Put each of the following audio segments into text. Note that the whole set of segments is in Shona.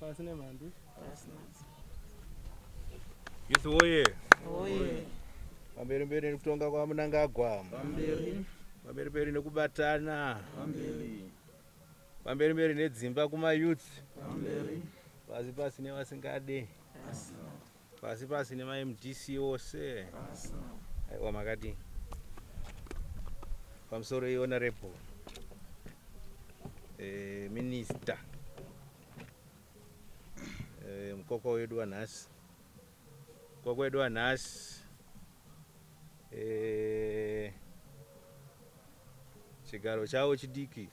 Pasi nemhandu. Pasi nadzo. Youth woye. Woye. Pamberi mberi nekutonga kwa Mnangagwa. Pamberi. Pamberi mberi nekubatana. Pamberi. Pamberi mberi nedzimba kuma youth. Pamberi. Pasi pasi nevasingade. Pasi. Pasi pasi nema MDC ose. Aiwa makadii? Pamusoro i honorable eh, minister eh, mukoko wedu wanhasi mukoko wedu wanhasi eh, chigaro chavo chidiki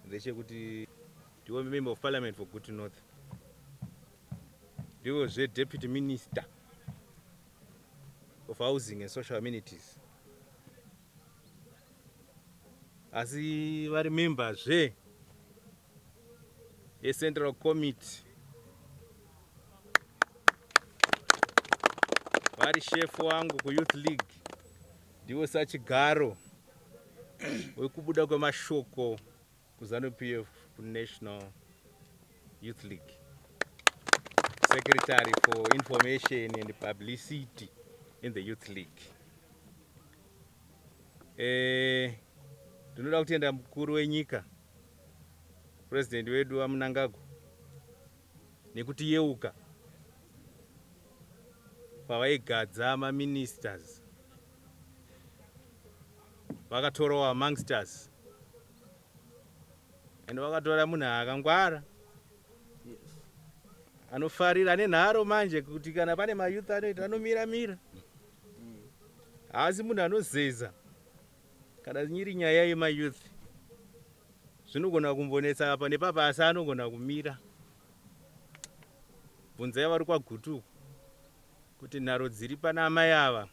ndechekuti ndiwo member of parliament for Gutu North Ndivo zve Deputy Minister of Housing and Social Amenities. Asi vari member zve ye Central Committee. Vari chef wangu ku Youth League. Ndivo sachigaro wekubuda kwemashoko Kuzanu PF kuNational Youth League. Secretary for Information and Publicity in the Youth League. Eh, ndinoda kutenda mukuru wenyika president wedu aMnangagwa nekuti yeuka pavaigadza maministers vakatorawo amongst us and vakatora munhu akangwara yes. anofarira ane nharo manje kuti kana pane mayouth anoita anomira mira haasi mm. munhu anozeza kana nyiri nyaya yemayouth zvinogona kumbonetsa apa nepapa asi anogona kumira bvunza yavari kwagutuku kuti nharo dziri pana amai ava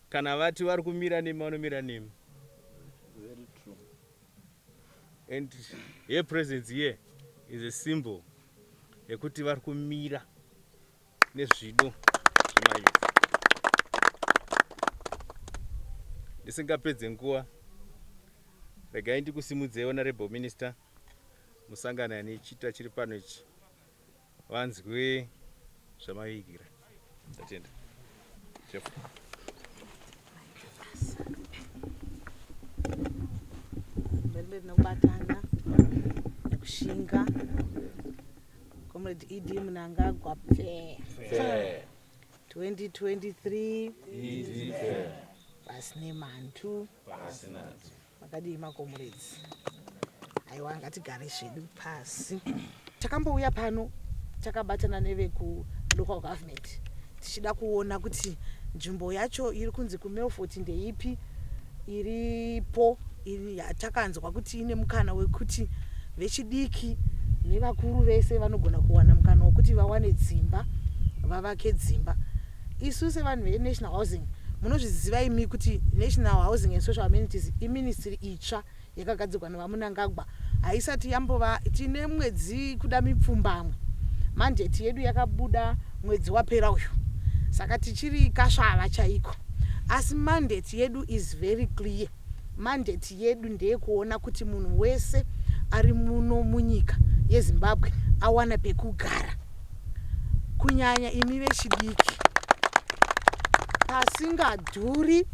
Kana vati vari kumira nemi vanomira nemi. Very true. And her presence here is a symbol yekuti vari kumira nezvido zvemayouth. Ndisingapedze nguva, regai ndikusimudzei honorable minister musangano ane chita chiri pano ichi. vanzwe zvamavigira tatenda mberimberi nekubatana nekushinga comrade ed munangagwa pfe 2023 pasi nemhandu Makadii makomuredzi? Aiwa ngatigare zvedu pasi. Takambouya pano takabatana neveku local government tichida kuona kuti nzvimbo yacho iri kunzi kuMelfort ndeipi iripo iri yatakanzwa kuti ine mukana wekuti vechidiki nevakuru vese vanogona kuwana mukana wekuti vawane dzimba vavake dzimba Isu sevanhu veNational Housing munozviziva imi kuti National Housing and Social Amenities iministry itsva yakagadzirwa naVaMunangagwa haisati yambova tine mwedzi kuda mipfumbamwe mandate yedu yakabuda mwedzi wapera uyu saka tichiri kasvava chaiko asi mandate yedu is very clear Mandate yedu ndeyekuona kuti munhu wese ari muno munyika yeZimbabwe awana pekugara kunyanya imi vechidiki pasingadhuri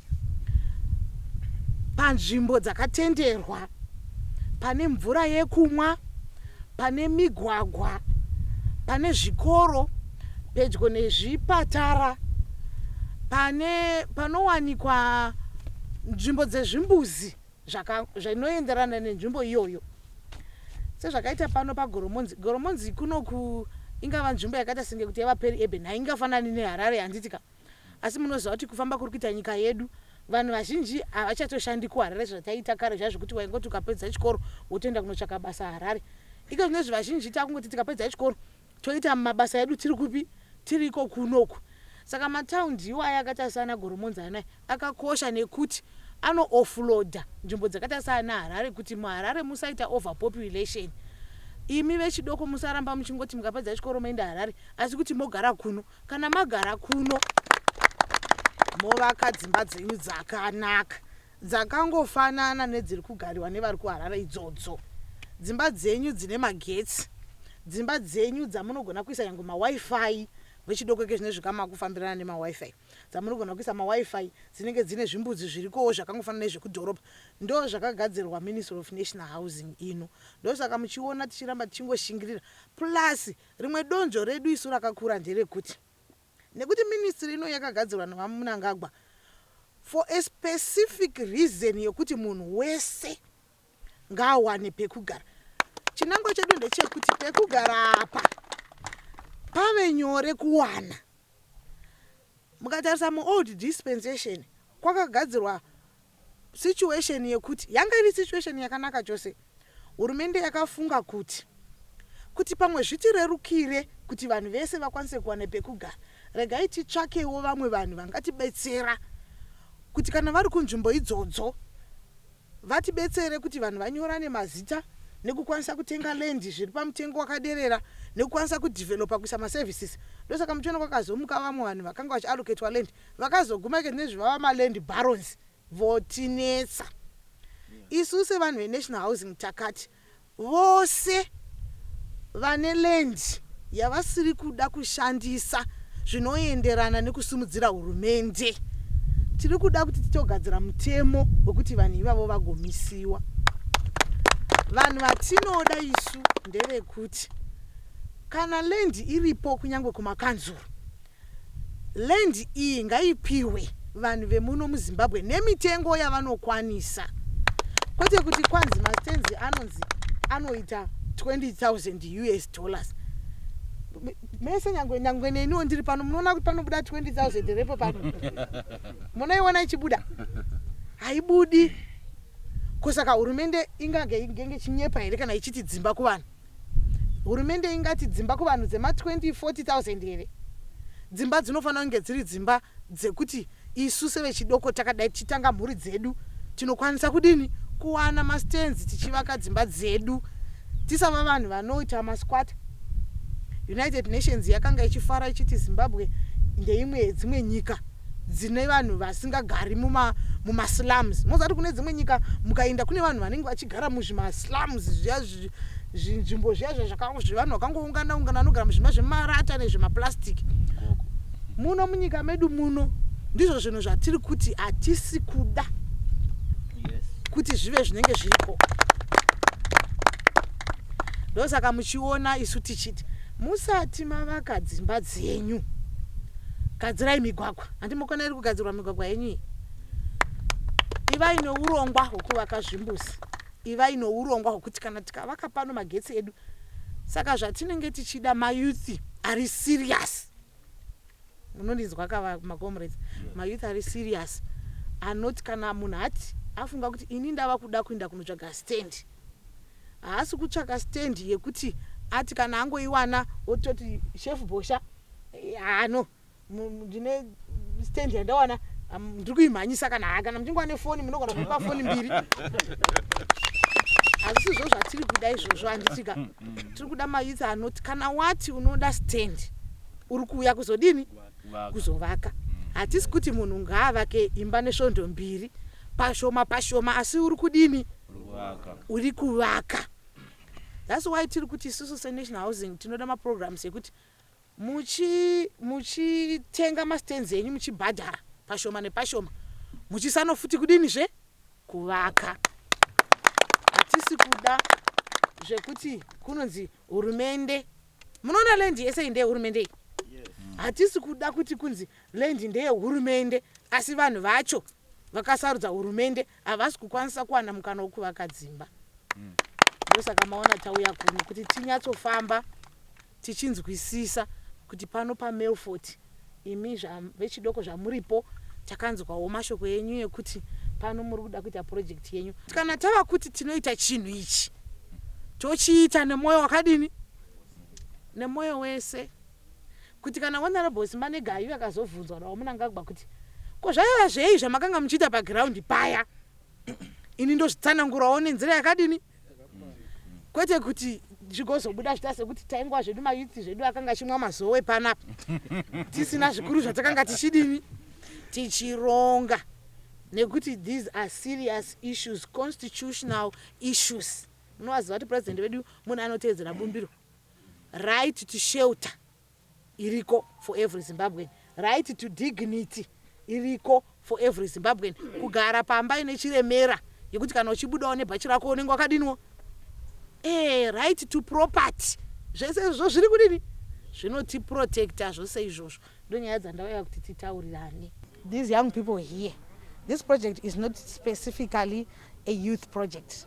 panzvimbo dzakatenderwa pane mvura yekumwa pane migwagwa, pane zvikoro, pedyo nezvipatara, pane panowanikwa nzvimbo dzezvimbuzi zvinoenderana nenzvimbo iyoyo sezvakaita pano pagoromonzi goromonzi kunoku ingava nzvimbo yakaita senge kuti yava peri eben haingafanani neharare handiti ka Asi munoziva kuti kufamba kuri kuita nyika yedu vanhu vazhinji havachatoshandi kuHarare zvataiita kare zviya zvekuti waingoti ukapedza chikoro wotoenda kunotsvaka basa Harare. Iko zvinezvi vazhinji takungoti tikapedza chikoro toita mabasa edu tiri kupi? Tiri iko kuno uku. Saka mataundi iwayo akaita saana Goromonza anaya akakosha nekuti ano offloader nzvimbo dzakaita saana Harare kuti muHarare musaita overpopulation. Imi vechidoko musaramba muchingoti mukapedza chikoro moenda Harare asi kuti mogara kuno. Kana magara kuno movaka dzimba dzenyu dzakanaka dzakangofanana nedziri kugariwa nevari kuharare idzodzo dzimba dzenyu dzine magetsi dzimba dzenyu dzamunogona kuisa yange mawifi vechidoko ke zvine zvikama kufambirana nemawifi dzamunogona kuisa mawifi dzinenge dzine zvimbudzi zvirikowo zvakangofanana nezvekudhorobha ndo zvakagadzirwa ministry of national housing ino ndosaka muchiona tichiramba tichingoshingirira plus Rimwe donzvo redu isu rakakura nderekuti nekuti ministry ino yakagadzirwa naVaMnangagwa for a specific reason yekuti munhu wese ngaawane pekugara. Chinangwa chedu ndechekuti pekugara apa pave nyore kuwana. Mukatarisa mu old dispensation kwakagadzirwa situation yekuti yanga iri situation yakanaka chose. Hurumende yakafunga kuti kuti pamwe zvitirerukire kuti vanhu vese vakwanise kuwana pekugara regai titsvakewo vamwe vanhu vangatibetsera kuti kana vari kunzvimbo idzodzo. Vatibetsere kuti vanhu vanyorane mazita nekukwanisa kutenga land zviri pamutengo wakaderera nekukwanisa ku developer kuisa ma services ndosaka muchiona kwakazomuka vamwe vanhu vakanga vachi allocatwa land vakazoguma ike zvinezvi vava ma land barons votinetsa isu sevanhu ve National Housing takati Vose vane land yavasiri kuda kushandisa zvinoenderana nekusimudzira hurumende. Tiri kuda kuti titogadzira mutemo wekuti vanhu ivavo vagomisiwa. Vanhu vatinoda isu ndevekuti kana land iripo kunyangwe kumakanzuru Land iyi ngaipihwe vanhu vemuno muZimbabwe nemitengo yavanokwanisa kwete kuti kwanzi mastands anonzi anoita 20,000 us dollars mese nyangwe nyangwe neniwo ndiri pano munoona kuti panobuda 20,000 here ipo pano munoiona ichibuda haibudi ko saka hurumende ingange inge chinyepa here kana ichiti dzimba kuvanhu Hurumende ingati dzimba kuvanhu dzema 2040,000 here? Dzimba dzinofanira kunge dziri dzimba dzekuti isu sevechidoko takadai tichitanga mhuri dzedu tinokwanisa kudini kuwana ma stands tichivaka dzimba dzedu tisava vanhu vanoita ma squatter. United Nations yakanga ichifara ichiti Zimbabwe ndeimwe yedzimwe nyika. dzine vanhu vasingagari muma mumaslums moziva kuti kune dzimwe nyika mukainda kune vanhu vanenge vachigara muzvimaslums zviya zvinzvimbo zviya zviya zvevanhu vakangoungana ungana vanogara muzvima zvemarata nezvemaplastic muno munyika medu muno ndizvo zvinhu zvatiri kuti hatisi kuda kuti zvive zvinenge zviriko ndosaka muchiona isu tichiti musati mavaka dzimba dzenyu Gadzirai migwagwa. Handi mokona iri kugadzirwa migwagwa yenyu iyi. Ivai neurongwa hwekuvaka zvimbuzi. Ivai neurongwa hwekuti kana tikavaka pano magetsi edu. Saka zvatinenge tichida mayouth ari serious. Munondinzwa ka macomrades? Mayouth ari serious anoti kana munhu ati afunga kuti ini ndava kuda kuenda kunotsvaga stand. Haasi kutsvaka stand yekuti ati kana angoiwana ototi chef Bhosha haa no ndine stand yandawana ndiri kuimhanyisa kana haa kana muchingova nefoni munogona kuipa foni mbiri hazvisi zvo zvatiri kuda izvozvo handitika mm, mm. tiri kuda mayouth anoti kana wati unoda stand uri kuuya kuzodini kuzovaka mm. hatisi kuti munhu ngaavake imba nesvondo mbiri pashoma pashoma asi uri kudini uri kuvaka thats why tiri kuti isusu senational housing tinoda maprograms ekuti muchitenga mastands enyu muchibhadhara pashoma nepashoma muchisano futi kudini zve kuvaka hatisi kuda zvekuti kunonzi hurumende munoona land yese inde hurumende iyi hatisi kuda kuti kunzi land ndeyehurumende asi vanhu vacho vakasarudza hurumende havasi kukwanisa kuwana mukana wokuvaka dzimba. Ndosaka maona tauya kuno kuti tinyatsofamba tichinzwisisa kuti pano paMelfort imi vechidoko zvamuripo takanzwawo mashoko enyu ekuti pano muri kuda kuita project yenyu. Kana tava kuti tinoita chinhu ichi tochiita nemwoyo wakadini? Nemwoyo wese. kuti kana Honourable Simanega aive akazobvunzwa naVaMnangagwa kuti ko zvaiva zvei zvamakanga muchiita paground paya ini ndozvitsanangurawo nenzira yakadini kwete kuti zvigozobuda zvita sekuti taingwa zvedu mayuthi zvedu akanga achimwa mazowe panapa tisina zvikuru zvatakanga tichidini tichironga nekuti these are serious issues constitutional issues munovaziva kuti president vedu munhu anoteedzera bumbiro Right to shelter iriko for every Zimbabwean. Right to dignity iriko for every Zimbabwean. Kugara pamba ine chiremera yekuti kana uchibudawo nebhachi rako unenge wakadiniwo. Eh, right to property. Zvese izvo zviri kudini? Zvinotiprotecta zvose izvozvo. Ndonyaya dzandauya kuti titaurirane. These young people here, this project is not specifically a youth project.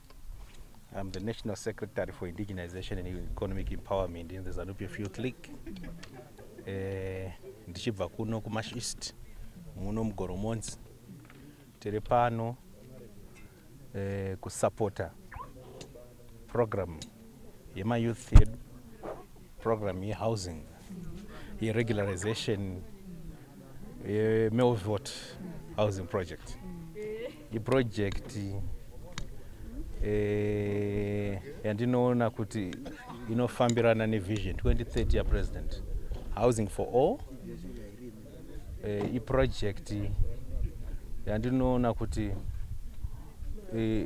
I'm the National Secretary for Indigenization and Economic Empowerment in the Zanupf Youth League. Eh, ndichibva kuno kuMash East muno mugoromonzi tiri pano eh, kusapota program yemayouth yedu program yehousing yeregularization yemelvot housing project iprojekti eh, yandinoona kuti inofambirana nevision 2030 yapresident housing for all eh, iprojekti yandinoona kuti eh,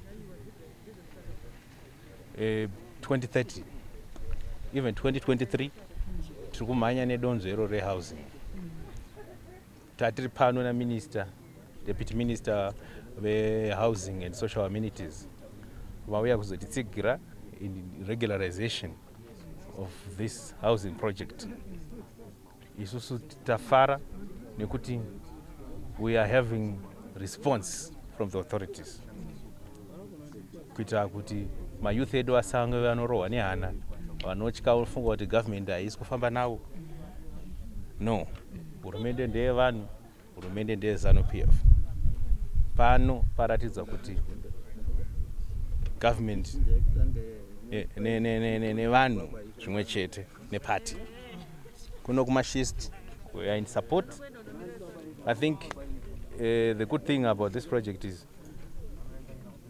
eh, 2030 even 2023 tiri kumhanya nedonzvo iro rehousing tatiri pano naminister deputy minister vehousing and social amenities vauya kuzotitsigira in regularization of this housing project Isusu tafara nekuti we are having response from the authorities kuitira kuti mayouth edu asange vanorohwa nehana vanotya vofunga kuti government haisi kufamba navo no hurumende ndeyevanhu Hurumende ndeye Zanu PF. Pano paratidza kuti government nevanhu ne, ne, ne, zvimwe chete neparty kuno kumashist we are in support i think uh, the good thing about this project is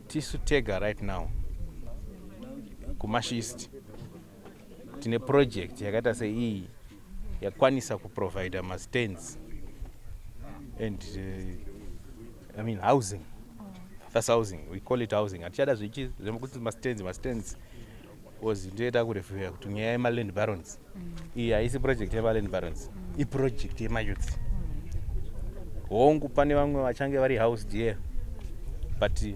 tisu tega right now kumashist tine project yakaita seiyi yakwanisa kuprovider mastands and uh, i mean housing that's housing we call it housing hatichada zvichi zvekuti mastands mastands bcause ndoita kurevhuya kuti nyaya yemaland barons mm. iyi haisi project yemaland barons mm. iproject yemayouth mm. hongu pane vamwe vachange vari house dear but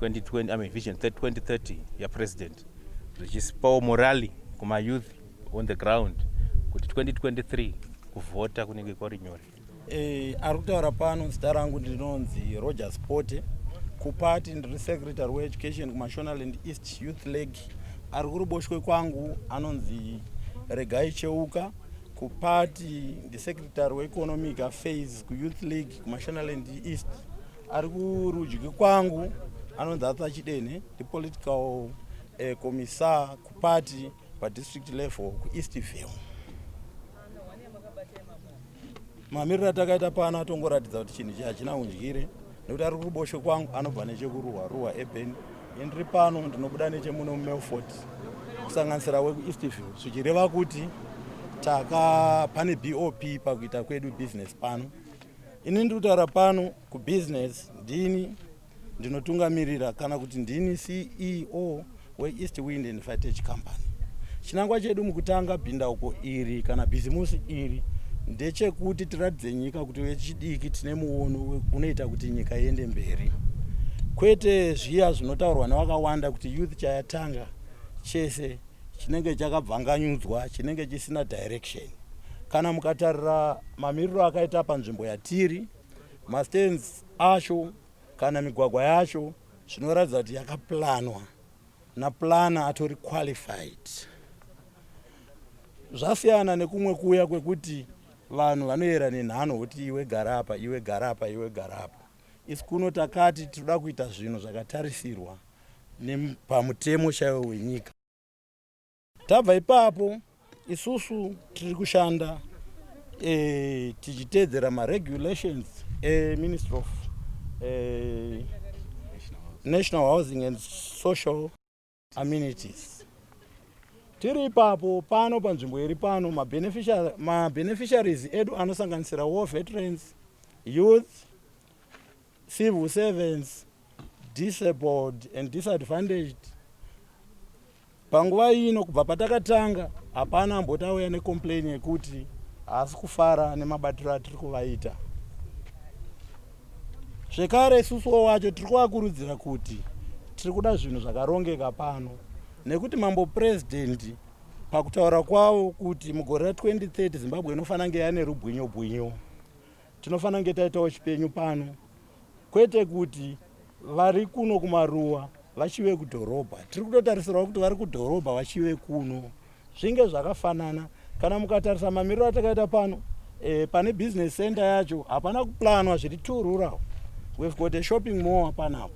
2020, I mean vision 2030 ya president richisipawo morali kuma youth on the ground kuti 2023 kuvhota kunenge kwari nyore. Eh, ari kutaura pano zita rangu ndinonzi Roger Spote kupati ndiri secretary weeducation kumashonaland east youth league ari kuruboshwe kwangu anonzi regai cheuka kupati ndisecretary weeconomic affairs kuyouth league kumashonaland east Ari kurudyi kwangu anonzi Arthur Chidene, the political uh, eh, commissar kuparty padistrict level kuEastville. Mamiriro atakaita pano atongoratidza kuti chinhu ichi hachina undyire nekuti ari kuruboshwe kwangu anobva nechekuruwa ruwa eben indiri pano ndinobuda nechemuno mumelford kusanganisira wekuEastville zvichireva kuti taka pane bop pakuita kwedu business pano Ini ndiri kutaura pano kubusiness ndini ndinotungamirira kana kuti ndini ceo weeast wind and fitech company chinangwa chedu mukutanga bhindauko iri kana bhizimusi iri ndechekuti tiratidze nyika kuti vechidiki tine muono unoita kuti nyika iende mberi kwete zviya zvinotaurwa nevakawanda kuti youth chayatanga chese chinenge chakabvanganyudzwa chinenge chisina direction kana mukatarira mamiriro akaita panzvimbo yatiri mastands acho kana migwagwa yacho zvinoratidza kuti yakaplanwa naplana atori qualified zvasiyana nekumwe kuya kwekuti vanhu vanoyera nenhano kuti iwe garapa iwe garapa iwe garapa Isu kuno takati tinoda kuita zvinhu zvakatarisirwa nepamutemo chaiwo wenyika. Tabva ipapo isusu tiri kushanda e, tichiteedzera maregulations eministry of e, national housing and social amenities tiri ipapo pano panzvimbo iri pano mabeneficiaries ma edu anosanganisira war veterans youth civil servants disabled and disadvantaged panguva ino kubva patakatanga hapana amboti auya necomplain yekuti haasi kufara nemabatiro atiri kuvaita zvekare isusuwo wacho tiri kuvakurudzira kuti tiri kuda zvinhu zvakarongeka pano nekuti mambo purezidhendi pakutaura kwavo kuti mugore ra 2030 zimbabwe inofanira kunge yane rubwinyo bwinyo tinofanira kunge taitawo chipenyu pano kwete kuti vari kuno kumaruwa vachive kudhorobha tiri kutotarisirawo kuti vari kudhorobha vachive kuno Zvinge zvakafanana kana mukatarisa mamiriro atakaita pano e, pane business center yacho hapana kuplanwa zviri two rural we've got a shopping mall panapo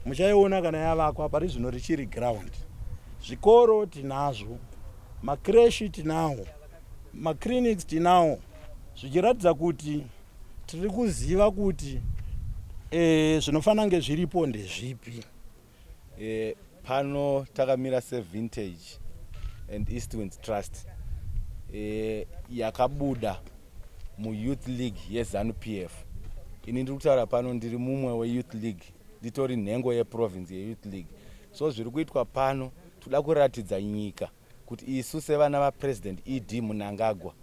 muchaiona kana yavakwa pari zvino richiri ground zvikoro tinazvo makreshi tinawo maclinics tinawo zvichiratidza kuti tiri kuziva kuti e, zvinofanira kunge zviripo ndezvipi E, pano takamira sevintage and eastwinds trust e, yakabuda muyouth league yezanupf ini ndiri kutaura pano ndiri mumwe weyouth league nditori nhengo yeprovince yeyouth league so zviri kuitwa pano toda kuratidza nyika kuti isu sevana vapresident ed munangagwa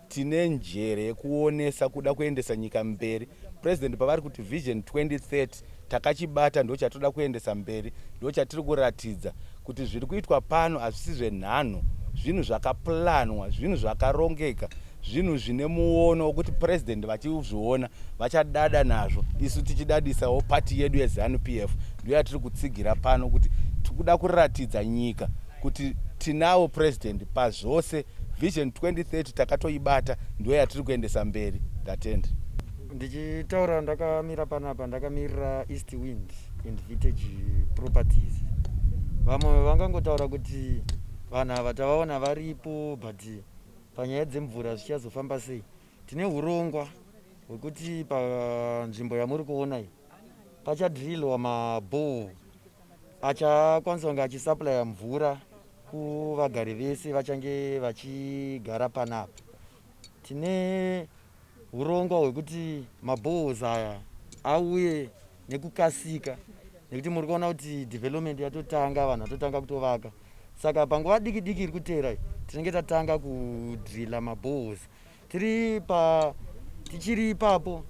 Tine njere yekuonesa kuda kuendesa nyika mberi. President pavari kuti Vision 2030 takachibata ndochatinoda kuendesa mberi ndochatiri kuratidza kuti zviri kuitwa pano hazvisi zvenhanho zvinhu zvakaplanwa zvinhu zvakarongeka zvinhu zvine muono wekuti president vachizviona vachadada nazvo isu tichidadisawo pati yedu yezanu p f ndiyo yatiri kutsigira pano kuti tikuda kuratidza nyika kuti tinawo president pazvose vision 2030 takatoibata ndiyo yatiri kuendesa mberi ndatenda ndichitaura ndakamira panapa ndakamirira east wind and vitage properties vamwe vangangotaura kuti vanhu ava tavaona varipo but panyaya dzemvura zvichazofamba sei tine urongwa hwekuti panzvimbo yamuri kuona iyi pachadrilwa mabhoo Achakwanisa kunge achisupplier mvura kuvagari vese vachange vachigara panapa. Tine hurongwa hwekuti maboreholes aya auye nekukasika nekuti muri kuona kuti development yatotanga vanhu vatotanga kutovaka saka panguva diki diki iri kuteera tinenge tatanga kudrilla maboreholes tiri pa tichiri ipapo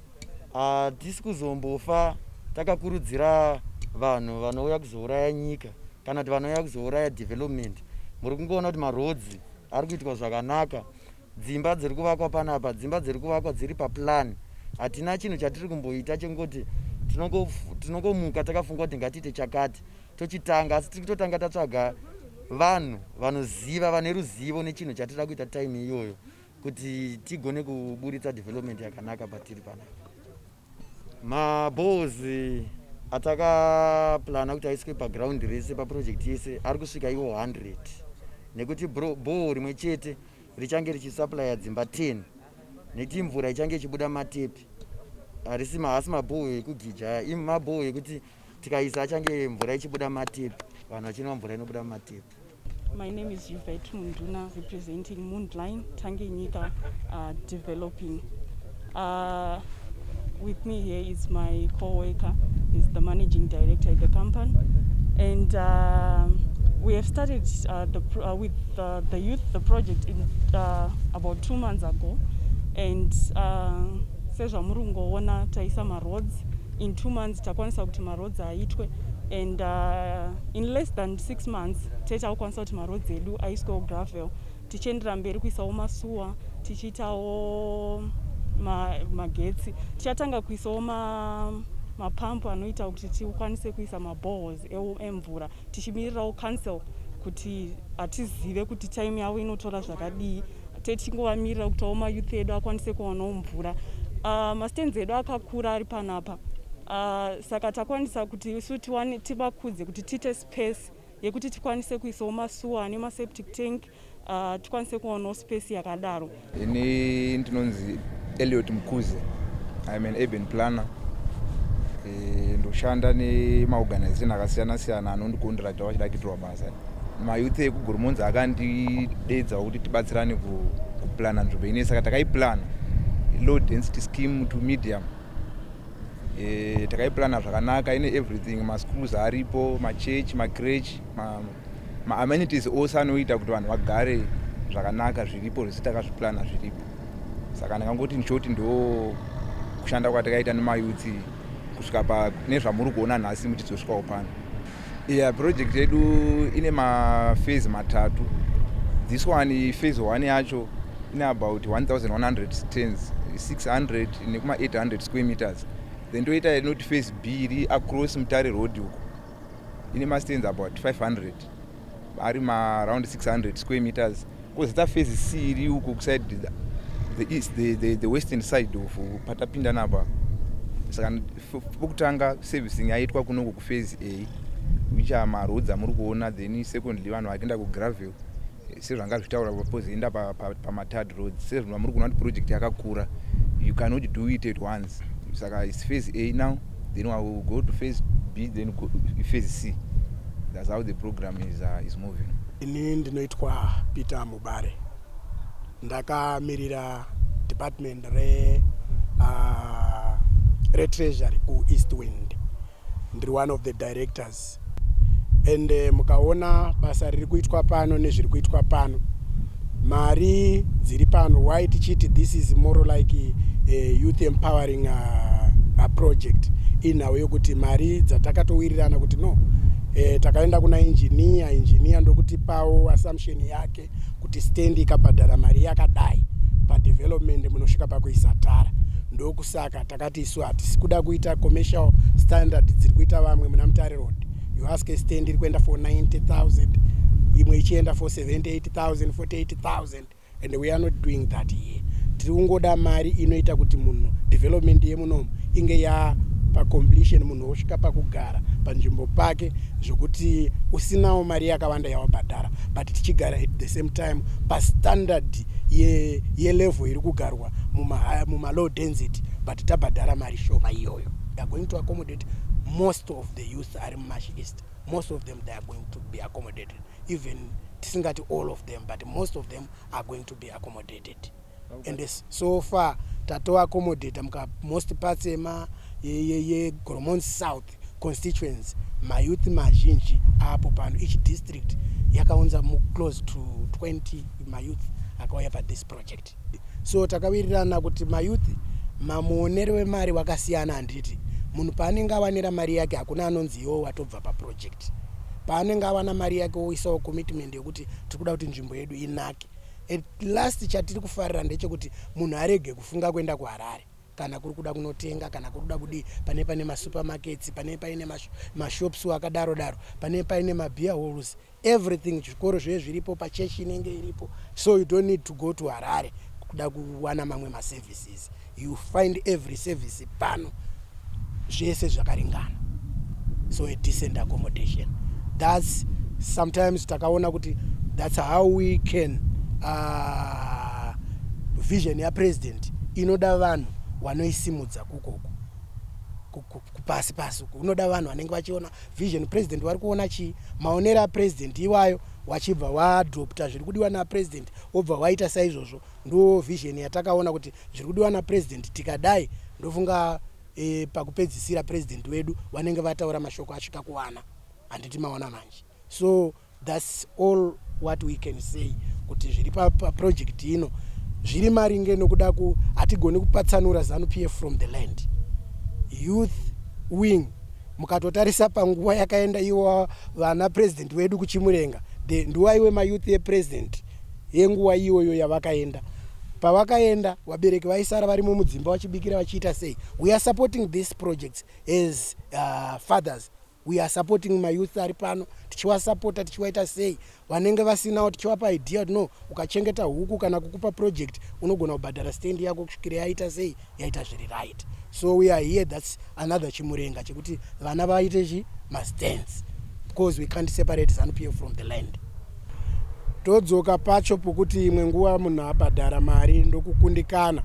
hatisi kuzombofa takakurudzira vanhu vanouya kuzouraya nyika kana kuti vanouya kuzouraya development muri kungoona kuti marodzi ari kuitwa zvakanaka dzimba dziri kuvakwa panapa dzimba dziri kuvakwa dziri paplan hatina chinhu chatiri kumboita chekungoti tinongomuka takafunga kuti ngatiite chakati tochitanga asi tiri kutotanga tatsvaga vanhu vanoziva vane ruzivo nechinhu chatira kuita time iyoyo kuti tigone kuburitsa development yakanaka patiri panapa maballs atakaplana kuti aiswe paground rese paproject yese ari kusvika iwo 100 nekuti ball rimwe chete richange richisuplya dzimba 10 nekuti mvura ichange ichibuda matepi harisi mahasi mabhoo ekugija imabhoo ekuti Tikaisa achange mvura ichibuda matipi, vanhu vachinwa mvura inobuda mumatipi. My name is Yvette Munduna representing Moonline Tangenyika uh, Developing. Uh, with me here is my co-worker, is the managing director at the company. And uh, we have started uh, the, uh, with uh, the youth the project in, uh, about two months ago. And uh, sezvamuri kungoona taisa maroads In two months takwanisa kuti maroads aitwe and uh, in less than six months tete akukwanisa kuti maroads edu aiswewo gravel tichiendera mberi kuisawo masuwa tichiitawo magetsi ma tichatanga kuisawo ma mapampu anoita kuti tikwanise kuisa mabohos emvura tichimirirawo council kuti hatizive kuti time yavo inotora zvakadii techingovamirira kuti awo mayouth edu akwanise kuwanawo mvura uh, mastands edu akakura ari panapa uh, saka takwanisa kuti isu tivakudze kuti tiite space yekuti tikwanise kuisawo masuwa ane maseptic tank uh, tikwanise kuonawo space yakadaro ini ndinonzi eliot mukuze im an urban planner eh, ndoshanda nemaorganization akasiyana siyana anondikondirata vachida kuitirwa basa mayouth ekugurmonzi akandideedzawo kuti tibatsirane kuplana nzvimbo ine saka takaiplana low density scheme to medium eh, takaiplana zvakanaka ine everything maschools aripo machurch macrech ma ma amenities ose anoita kuti vanhu vagare zvakanaka zviripo zvese takazviplana zviripo saka ndakangoti nshoti ndo kushanda kwatakaita nemayutsi kusvika pa nezvamuri kuona nhasi mutidzosvikawo pano iya project yedu ine mafezi matatu this one fezi one yacho ine about 1100 tens 600 nekuma 800 square meters then toita inoti fezi b iri across mutare road uko ine mastands about 500 ari maaround 600 square meters kozita phase c iri uko kuside the, the, east, the, the, the western side of patapinda napa saka pokutanga servicing yaitwa kunoko kuphase a which are maroads amuri kuona then secondly vanhu vakienda kugravel sezvanga zvitaura vapozoenda pamathird roads sezvino vamuri kuona kuti project yakakura you cannot do it at once saka its phase a now then we will go to phase b then go, phase c thats how the program is, uh, is moving ini ndinoitwa peter mubare ndakamirira department re uh, retreasury kueast wind ndiri one of the directors and eh, mukaona basa riri kuitwa pano nezviri kuitwa pano mari dziri pano why tichiti this is more like a eh, youth empowering a, uh, a project inhau yokuti mari dzatakatowirirana kuti no e, takaenda kuna injiniya injiniya ndokutipawo assumption yake kuti stand ikabhadhara mari yakadai padevelopment munosvika pakuisa tara ndokusaka takati isu hatisi kuda kuita commercial standard dziri kuita vamwe muna mutare road you ask a stand iri kuenda for 90000 imwe ichienda for 78000 48000 and we are not doing that here tiri kungoda mari inoita kuti munhu development yemunomu inge ya pacompletion wosvika pakugara panzvimbo pake zvokuti usinawo mari yakawanda yawabhadhara but tichigara at the same time pastandard yelevel ye iri kugarwa mumalow muma density but tabhadhara mari shoma iyoyo theyare going to accommodate most of the youth ari mumash east most of them theyare going to be accommodated even tisingati all of them but most of them are going to be accommodated and so far tato accommodate muka most parts ema yegoromon south constituency mayouth mazhinji apo pano each district yakaunza muclose to 20 mayouth akauya pathis project so takawirirana kuti mayouth mamuonero wemari wakasiyana handiti munhu paanenge awanira mari yake hakuna anonzi iwo watobva paproject paanenge awana mari yake oisawo commitment yekuti tiri kuda kuti nzvimbo yedu inake At last chatiri kufarira ndechekuti munhu arege kufunga kuenda kuharare kana kuri kuda kunotenga kana kuri kuda kudii pane paine masupermarkets pane paine mashops akadaro daro pane paine mabeer halls everything zvikoro zviye zviripo pachechi inenge iripo so you don't need to go to harare kuda kuwana mamwe maservices You find every service pano zvese zvakaringana so a decent accommodation thats sometimes takaona kuti thats how we can uh, vision yapresident inoda vanhu wanoisimudza kukoku kupasi pasi uku unoda vanhu vanenge vachiona vision president wari kuona chii maonero apresident iwayo wachibva waadopta zviri kudiwa napresident wobva waita saizvozvo Ndo vision yatakaona kuti zviri kudiwa na president tikadai ndofunga e, pakupedzisira president wedu vanenge vataura mashoko asvika kuwana handiti maona manje so thats all what we can say kuti zviri paproject ino zviri maringe nokuda ku hatigoni kupatsanura zanu p f from the land youth wing mukatotarisa panguva yakaenda iwo vana president wedu kuchimurenga the ndiwaiwe mayouth epresident yenguva iyoyo yavakaenda pavakaenda vabereki vaisara varimo mudzimba vachibikira vachiita sei we are supporting this projects as uh, fathers we are supporting mayouth ari pano tichiwasapota tichiwaita sei vanenge vasinawo tichiwapa idea kuti no ukachengeta huku kana kukupa project unogona kubhadhara stand yako kusvikira yaita sei yaita zviri right so we are here thats another chimurenga chekuti vana vaite chi mastance because we can't separate zanupf from the land todzoka pacho pokuti imwe nguva munhu abhadhara mari ndokukundikana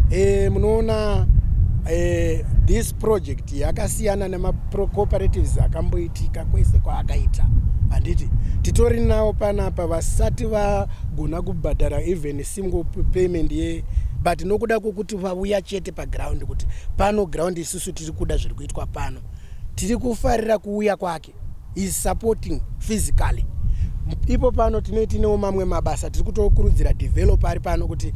e, munoona e, this project yakasiyana nemacooperativs akamboitika kwese kwaakaita handiti titori nawo panapa vasati vagona kubhadhara even tingo payment ye but nokuda kwokuti vauya chete paground kuti pano ground isusu tiri kuda zviri kuitwa pano tiri kufarira kuuya kwake is supporting physically ipo pano tine tinewo mamwe mabasa tiri kutokurudzira developer ari pano kuti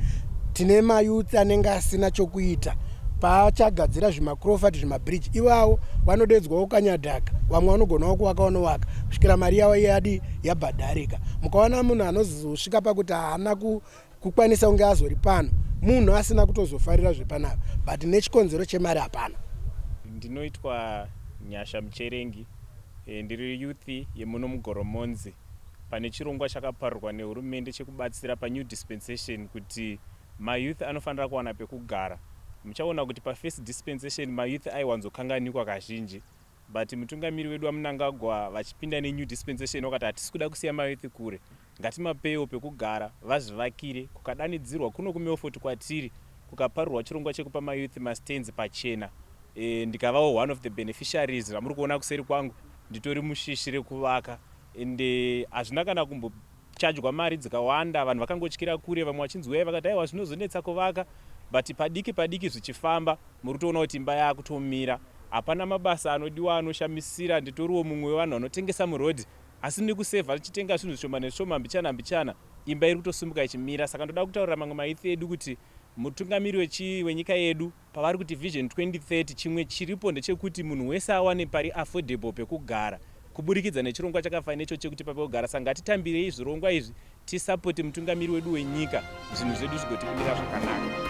tine mayouth anenge asina chokuita paachagadzira zvimacrofat zvimabridge ivawo vanodedzwawo kanyadhaka vamwe vanogonawo kuvaka vanovaka kusvikira mari yavo yadi yabhadharika mukaona munhu anoz zvakazosvika pakuti haana kukwanisa kunge azori pano munhu asina kutozofarira zvepanapa but nechikonzero chemari hapana ndinoitwa nyasha mucherengi eh, ndiri youth yemuno mugoromonzi pane chirongwa chakaparurwa nehurumende chekubatsira panew dispensation kuti mayouth anofanira kuwana pekugara muchaona kuti pafirst dispensation mayouth aiwanzokanganikwa kazhinji But mutungamiri wedu vaMnangagwa vachipinda nenew dispensation vakati hatisi kuda kusiya mayouth kure ngatimapewo pekugara vazvivakire kukadanidzirwa kuno kuMelfort kwatiri kukaparurwa chirongwa chekupa mayouth mastands pachena ndikavawo one of the beneficiaries vamuri kuona kuseri kwangu nditori mushishi rekuvaka Ende hazvina kana kumbo chajwa mari dzikawanda vanhu vakangotyira kure vamwe vachinzi huyai vakati aiwa zvinozonetsa kuvaka but padiki padiki zvichifamba muri kutoona kuti imba yakutomira hapana mabasa anodiwa anoshamisira nditoriwo mumwe wevanhu vanotengesa muroad asi ndiri kusevha ndichitenga zvinhu zvishoma nezvishoma mbichana mbichana imba iri kutosimuka ichimira saka ndoda kutaurira mamwe maithe edu kuti mutungamiri wenyika yedu Pavari kuti Vision 2030 chimwe chiripo ndechekuti munhu wese awane pari affordable pekugara kuburikidza nechirongwa chakafanana neichochi chekuti papi pekugara saka ngatitambirei zvirongwa izvi tisapote mutungamiri wedu wenyika zvinhu zvedu zvigotikumira zvakanaka.